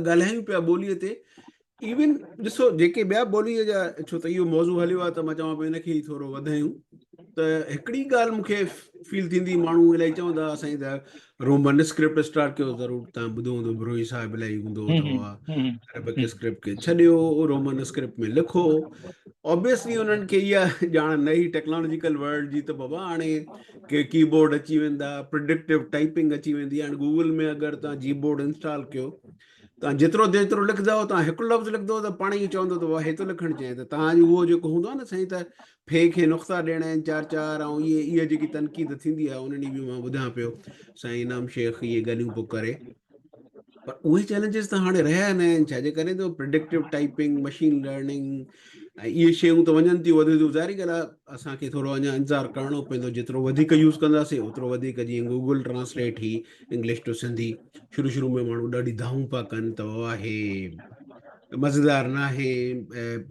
ڳالهايون پيا ٻوليء تي ايون ڏسو جيڪي ٻيا ٻوليء جا ڇو ته اهو موضوع هليو آهي ته مان چوان پيو ان کي ٿورو وڌايون ته هڪڙي ڳالهه مونکي فيل ٿيندي ماڻهو الائي چوندا سائين ته رومن اسڪرپٽ اسٽارٽ ڪيو ضرور تان ٻڌو هوندو بروهي صاحب الائي هوندو عربڪ اسڪرپٽ کي ڇڏيو رومن اسڪرپٽ ۾ لکو اوبيسلي انهن کي اها ڄاڻ نه هي ٽيڪنالاجيڪل ورلڊ جي ته بابا هاڻي ڪي ڪي بورڊ اچي ويندا پرڊڪٽو ٽائپنگ اچي ويندي هاڻي گوگل ۾ اگر تان جي بورڊ انسٽال ڪيو تان جيترو جيترو لکندو تان هڪ لفظ لکندو ته پاڻ ئي چوندو ته هي ٿو لکڻ چاهي ته تان جو هو جيڪو هوندو نه سائين ته في کي نقطا ڏيڻا آهن چار چار ۽ اهي اهي جيڪي تنقيد ٿيندي آهي انهن ڏينهن به مان ٻڌان پيو سائين انعام شيخ اهي ڳالهيون پو ڪري پر اهي چئلينجز ته هاڻي رهيا ئي ناهن ڇا جي ڪري ته پريڊڪٽو ٽائپنگ مشين لرننگ ۽ اهي شيون ته وڃن ٿيون وڌيون ٿيون ظاهري ڳالهه آهي اسان کي ٿورو اڃا انتظار ڪرڻو پوندو جيترو وڌيڪ يوز ڪنداسين اوترو وڌيڪ جيئن گوگل ٽرانسليٽ هي انگلش ٽو سنڌي شروع شروع ۾ ماڻهو ڏاڍي دانهون پيا ڪن ته واهه هي مزيدار نه آهي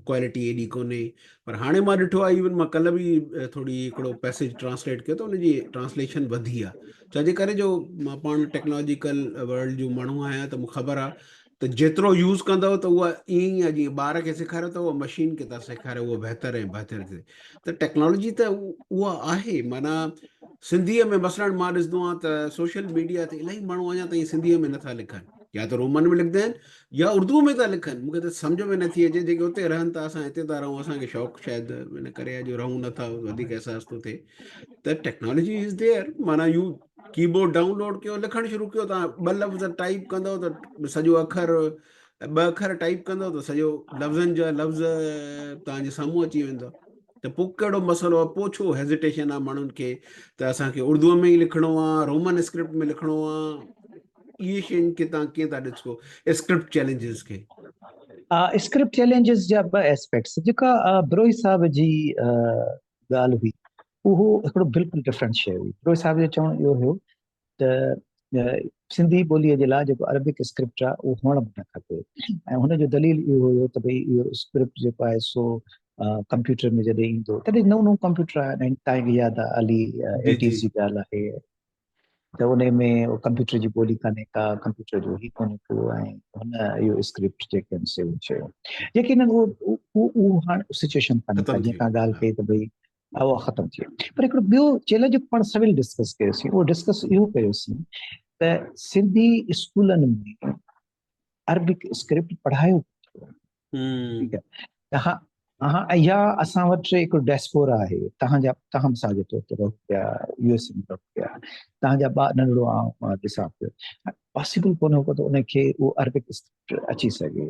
ڪوالٽي ايڏي ڪونهي پر هاڻي مان ڏٺو آهي ايون مان ڪلهه به ٿوري هڪڙو پيسيج ٽرانسليٽ ڪيو ته ان جي ٽرانسليشن وڌي آهي ڇاجي ڪري جو مان پاڻ ٽيڪنالاجيڪل ورلڊ جو ماڻهو آهيان ته مون خبر آهي ته جيترو يوز ڪندو ته اها ائين ئي جيئن ٻار کي سيکاريو ته اها مشين کي ٿا سيکاريو اها بهتر ۽ بهتر ٿي ته ٽيڪنالاجي ته اها آهي معنيٰ سنڌيء ۾ مثلاً مان ڏسندو آهيان ته سوشل ميڊيا تي الاهي ماڻهو اڃا تائين سنڌيء ۾ نٿا لکن يا ته رومن ۾ لکندا آهن يا اردو ۾ ٿا لکن مونکي ته سمجھ ۾ نٿي اچي جيڪي اتي رهن ٿا اسان هتي ٿا رهون اسان کي شوق شايد ان ڪري جو رهون نٿا وڌيڪ احساس ٿو ٿئي ته ٽيڪنالاجي از ديئر معنيٰ يو ڪيبورڊ ڊائونلوڊ ڪيو لکڻ شروع ڪيو تان ٻه لفظ ٽائپ ڪندو ته سڄو اکر ٻه اکر ٽائپ ڪندو ته سڄو لفظن جا لفظ تانجي سامهون اچي ويندو ته پوء ڪهڙو مسئلو آهي پوء ڇو هيزيٽيشن آهي ماڻهن کي ته اسانکي اردو ۾ ئي لکڻو آهي رومن اسڪرپٽ ۾ لکڻو آهي اهي شين کي تان ڪيئن ٿا ڏسو اسڪرپٽ چيلنجز کي اسڪرپٽ چيلنجز جا ٻه اسپيڪٽس جيڪا بروهي صاحب جي ڳالهه هئي اهو هڪڙو بلڪل ڊفرنٽ شيء هئي فروز صاحب جو چوڻ اهو هيو ته سنڌي ٻوليء جي لاء جيڪو عربڪ اسڪرپٽ آهي اهو هئڻ به نه کپي ۽ هن جو دليل اهو هيو ته ڀئي اهو اسڪرپٽ جيڪو آهي سو ڪمپيوٽر ۾ جڏهن ايندو تڏهن نئون نئون ڪمپيوٽر آهي تائين ياد آهي علي ايٽيز جي ڳالهه آهي ته ان ۾ ڪمپيوٽر جي ٻولي ڪانهي ڪا ڪمپيوٽر جو هي ڪونهي ڪو ۽ هن اهو اسڪرپٽ جيڪي آهن سيو چيو جيڪي نه هو هاڻ سچويشن ڪانهي ڪا جيڪا ڳالهه ڪئي ته ڀئي اهو ختم ٿي پر هڪڙو ٻيو چيلنج جو پاڻ سويل ڊسڪس ڪيوسين اهو ڊسڪس اهو ڪيوسين ته سنڌي اسڪولن ۾ عربڪ اسڪرپٽ پڙهايو ٺيڪ آهي تها اها اها اسان وٽ هڪ ڊيسپورا آهي تهان جا تهان سا جو تو رهو پيا يو اس ۾ رهو پيا تهان جا با ننڍڙو آ ڏسان پيو پاسيبل ڪونه هو ته ان کي اهو عربڪ اچي سگهي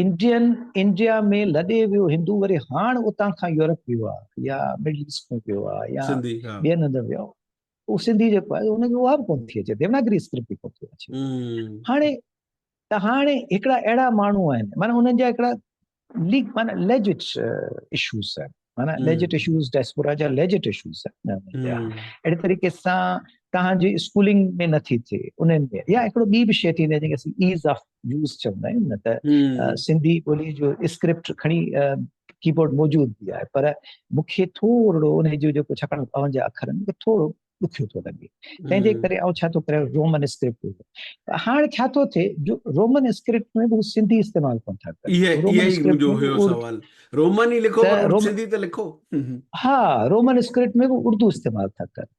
انڊين انڊيا ۾ لڏي ويو هندو وري هاڻ اتان کان يورپ ويو آهي يا مڊل ايسٽ ۾ ويو آهي يا ٻين هنڌ ويو آهي هو سنڌي جيڪو آهي هن کي اها به ڪونه ٿي اچي ديوناگري اسڪرپٽ به ڪونه ٿي اچي هاڻي ته هاڻي هڪڙا اهڙا ماڻهو آهن معنی انهن جا هڪڙا ليگ معنی ليجٽ اشوز آهن معنی ليجٽ اشوز ڊائسپورا جا ليجٽ اشوز اهڙي طريقي سان تهان جي اسڪولنگ ۾ نٿي ٿئي انهن ۾ يا هڪڙو ٻي به شي ٿيندي جنهن کي اسين ايز آف يوز چوندا آهيون نه ته سنڌي ٻولي جو اسڪرپٽ کڻي ڪيبورڊ موجود به آهي پر مونکي ٿورڙو ان جو جيڪو ڇاڪاڻ پاون جا اکر آهن تھوڙو ڏکيو ٿو لڳي تنهن جي ڪري آئون ڇا ٿو ڪريان رومن اسڪرپٽ ۾ هاڻ ڇا ٿو ٿئي جو رومن اسڪرپٽ ۾ به سنڌي استعمال ڪون ٿا ڪن اهي اهي ئي منهنجو هيو سوال رومن ئي لکو پر سنڌي ته لکو ها رومن اسڪرپٽ ۾ به اردو استعمال ٿا ڪن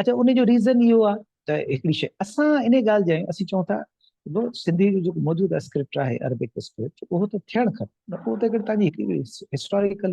اچا ان جو ريزن اهو آ ته هڪڙي شيء اسان ان ڳالهه جي اسين چئون ٿا جو سنڌي جو جيڪو موجوده اسڪرپٽ آهي عربڪ اسڪرپٽ اهو ته ٿيڻ کپي نه پوء ته اگر تانجي هڪڙي هسٽوريڪل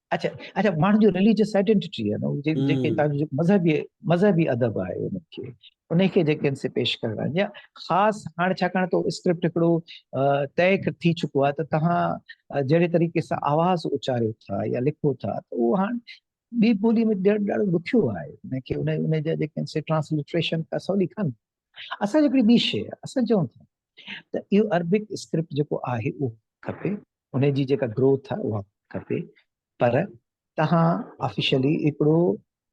اچا اچا ماڻهن جو رليجس آئيڊينٽي آهي نو جيڪي تان جو مذهبي مذهبي ادب آهي ان کي ان کي جيڪي ان سي پيش ڪرڻا جا خاص هاڻ ڇا ڪرڻ تو اسڪرپٽ هڪڙو طئي ٿي چڪو آهي ته تهان جهڙي طريقي سان آواز اچاريو ٿا يا لکو ٿا ته اهو هاڻ ٻي ٻولي ۾ ڏيڻ ڏاڍو ڏکيو آهي ان کي ان ان جا جيڪي ان سي ٽرانسلٽريشن ڪا سولي ڪانه اسان جي هڪڙي ٻي شي اسان چون ٿا ته اهو عربڪ اسڪرپٽ جيڪو آهي اهو کپي ان جي جيڪا گروٿ آهي اها کپي پر تهان آفيشلي هڪڙو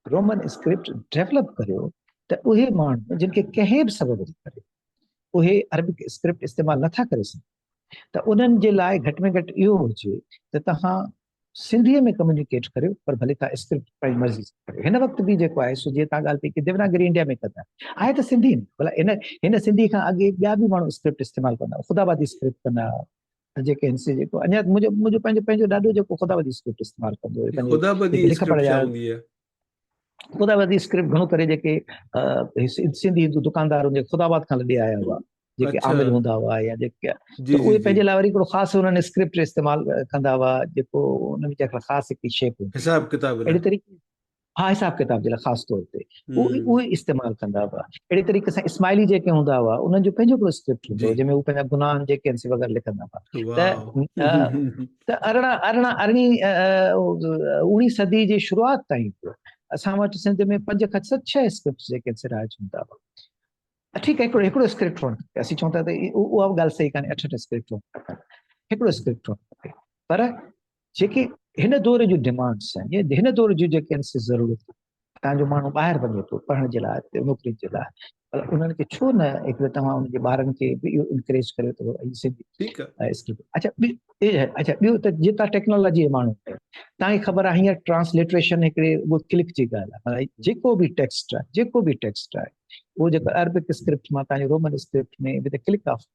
رومن اسڪرپٽ ڊيولپ ڪريو ته اهي ماڻهو جن کي ڪنهن به سبب جي ڪري اهي عربڪ اسڪرپٽ استعمال نٿا ڪري سگهن ته انهن جي لاء گهٽ ۾ گهٽ اهو هجي ته تهان سنڌي ۾ ڪميونيڪيٽ ڪريو پر ڀلي تهان اسڪرپٽ پنهنجي مرضي سان ڪريو هن وقت به جيڪو آهي سو جي تهان ڳالهه پئي ڪي ديوناگري انڊيا ۾ ڪندا آهي ته سنڌي ۾ بلا هن هن سنڌي کان اڳي ٻيا به ماڻهو اسڪرپٽ استعمال ڪندا خدا آبادي اسڪرپٽ ڪندا جيڪي هن سي جيڪو اڃا منهنجو منهنجو پنهنجو پنهنجو ڏاڏو جيڪو خدا بدي اسڪرپٽ استعمال ڪندو هو پنهنجو خدا بدي اسڪرپٽ ڇا هوندي آهي خدا بدي اسڪرپٽ گهڻو ڪري جيڪي سنڌي هندو دڪاندار هن خدا آباد کان لڏي آيا هئا جيڪي عامل هوندا هئا يا جيڪي اهي پنهنجي لاء وري هڪڙو خاص انهن اسڪرپٽ استعمال ڪندا هئا جيڪو ان ۾ خاص هڪ شيپ حساب ڪتاب اهڙي طريقي ها حساب ڪتاب جي لاء خاص طور تي اهو ئي استعمال ڪندا هئا اهڙي طريقي سان اسماعيلي جيڪي هوندا هئا انهن جو پنهنجو هڪڙو اسڪرپٽ هوندو جنهن ۾ هو پنهنجا گناهن جيڪي آهن سي وغيره لکندا هئا ته ارڙهن ارڙهن ارڙهين اوڻي صدي جي شروعات تائين اسان وٽ سنڌ ۾ پنج کان ست ڇهه اسڪرپٽس جيڪي آهن سي رائج هوندا هئا ٺيڪ هڪڙو هڪڙو اسڪرپٽ هئڻ کپي اسين چون ٿا ته اها ڳالهه صحيح ڪانهي اٺ اٺ اسڪرپٽ هئڻ کپن هڪڙو اسڪرپٽ هئڻ کپي پر جيڪي هن دور جون ڊمانڊس آهن يا هن دور جون جيڪي انسان ضرورت آهن تان جو ماڻهو ٻاهر وڃي ٿو پڙهڻ جي لاء نوڪري جي لاء پر انهن کي ڇو نه هڪ توهان ان جي ٻارن کي به اهو انڪريج ڪريو ته هي سنڌي ٺيڪ اسڪول اچھا اچھا ٻيو ته جي تان ٽيڪنالاجي ماڻهو تان کي خبر آهي هينئر ٽرانسليٽريشن هڪڙي اهو ڪلڪ جي ڳالهه آهي جيڪو به ٽيڪسٽ آهي جيڪو به ٽيڪسٽ آهي اهو جيڪو عربڪ اسڪرپٽ مان تان رومن اسڪرپٽ ۾ به ته ڪلڪ آف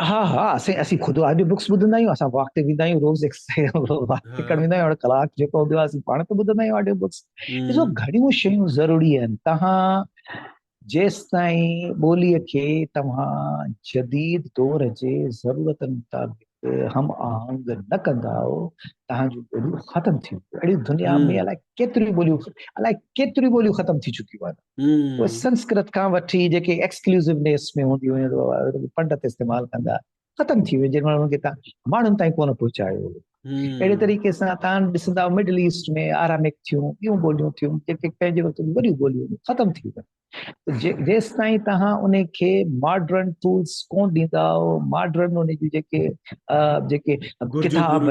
ها ها اسين اسين خود آڊيو بڪس ٻڌندا آهيون اسان واڪ تي ويندا آهيون روز واڪ تي ڪرڻ ويندا آهيون ڪلاڪ جيڪو هوندو آهي اسين پاڻ ته ٻڌندا آهيون آڊيو بڪس ڏسو گهڻيون شيون ضروري آهن تهان جيستائين ٻوليء کي توهان جديد دور جي ضرورتن مطابق هم آهنگ نه ڪندا آهو تهان جون ٻوليون ختم ٿي ويون اهڙي دنيا ۾ الائي ڪيتريون ٻوليون الائي ڪيتريون ٻوليون ختم ٿي چڪيون آهن اهي سنسڪرت کان وٺي جيڪي ايڪسڪلوسو نيس ۾ هونديون هيون ته پنڊت استعمال ڪندا ختم ٿي ويو جنهن مهل کي ماڻهن تائين ڪونه پهچايو اهڙي طريقي سان تان ڏسندا مڊل ايسٽ ۾ آراميڪ ٿيون ٻيون ٻوليون ٿيون جيڪي پنهنجي وقت ۾ وڏيون ٻوليون ختم ٿي ويون جيستائين توهان ان کي ماڊرن ٽولس ڪون ڏيندا ماڊرن ان جون جيڪي جيڪي ڪتاب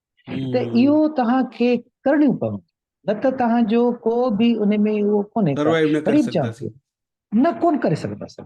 ته اهو توهان کي ڪرڻيون پونديون نه ته توهان جو ڪو به ان ۾ اهو ڪونهي سروائيو نه ڪري سگهنداسين نه ڪون ڪري سگهنداسين